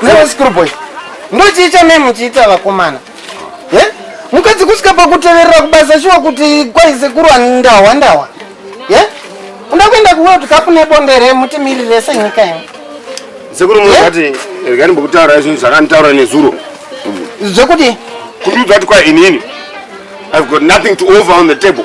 Zvinonzi ndochii chamai muchiita vakomana mukadzi kusvika pakuteverera kubasa shuwa kuti kwai sekuru ndahwa ndahwa uda kuenda kuworld cup nebonde remutimirire senyika ino sekuru munati rega ndimbokutaura zvinhu zvakanditaura nezuro zvekuti kuti udza kuti kwai inini i've got nothing to over on the table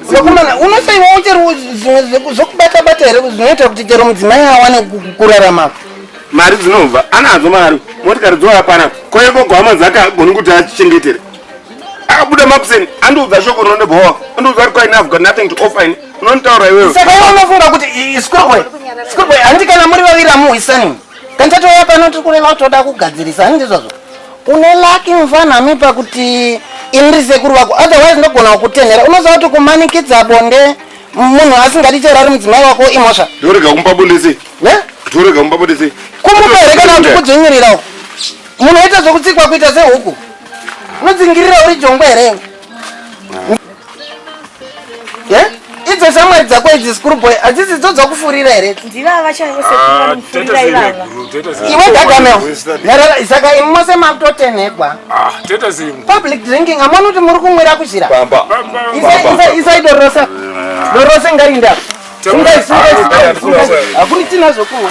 Vakomana, unosaiwawo chero zvimwe zvokubata bata here zvinoita kuti chero mudzimai awane kurarama. Mari dzinobva anadzo mari motikari dzova pana kwaye gogo hama dzake agoni kuti achichengetere akabuda makuseni andiudza shoko rinondibhowa andiudza kuti kwaine have got nothing to offer ini unonditaura iwewe saka iwe unofunga kuti schoolboy schoolboy handi kana muri vaviri amuhwisani kani tatouya pano tiri kureva kuti toda kugadzirisa handi ndizvazvo Une lucky mfana mi pakuti ini ndiri sekuru vako otherwise ndogona kukutenhera unoziva kuti kumanikidza bonde munhu asingadi chero ari mudzimai wako imhosva Torega kumba bonde sei? ne Torega kumba bonde sei? kumupa here kana kuti kudzvinyirirawo munhu oita zvokutsikwa kuita sehuku unodzingirira uri jongwe here idzo shamwari dzako idzi school boy hadzisi dzo dzakufurira here iwe gagamel nherera isaka imi mose makutotenhegwa ah, public drinking amoni kuti muri kumwira kuzhira isai dorosa dorose ngarinda akuni tina zvokumwa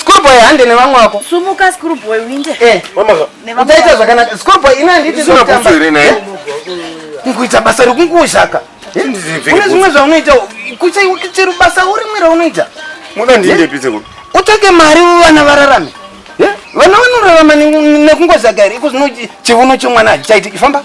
Schoolboy hande nevamwe wako. Sumuka schoolboy uinde. Eh, uchaita zvakanaka. Schoolboy ina handiti zvekutamba. Kuita basa rekunguzhaka. Une zvimwe zvaunoita kuchaiwa chero basa urimwe raunoita. Muda ndiende pise kuti. Utsvake mari vana vararame. Vana vanorarama nekungozhaka here iko zvino chivuno chemwana hachichaitiki famba.